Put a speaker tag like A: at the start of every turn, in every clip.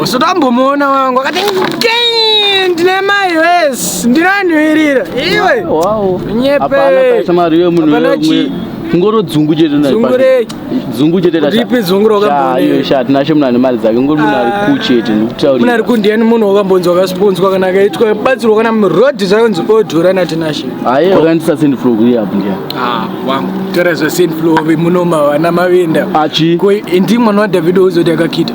A: Usati wambomuona wangu akati ndine mai wes ndinanhuirira iwe
B: nyepeapanachi ngoro dzungu chete dzungu chete ripi dzungu rokabonesha
A: tinashe munhu ane
B: mari dzake ngori munhu ari ku chete ndikutaurira ari kundiyani munhu
A: wakambonzi wakasponzwa kana akaitwa batsirwa kana muroad zvakanzi odhura natinashe aye wakandisa send
B: flow kuri apo ndiya ah wangu
A: tora zve send flow muno mavana mavenda achi ko
B: ndi mwana wa
A: David ozoti akakita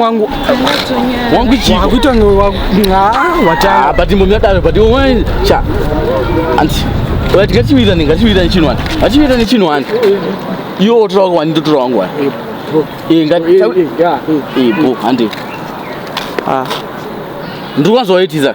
A: wangu
B: wangu chiko wakuita ngo
A: wangu watanga ah, but mumya dave
B: but wewe cha anti wati kati wira ninga kati wira chino wani kati wira ni chino wani yo otra wangu wani ndotora wangu wani eh nga eh, eh, ya eh bo ande ah ndikwanzo waitiza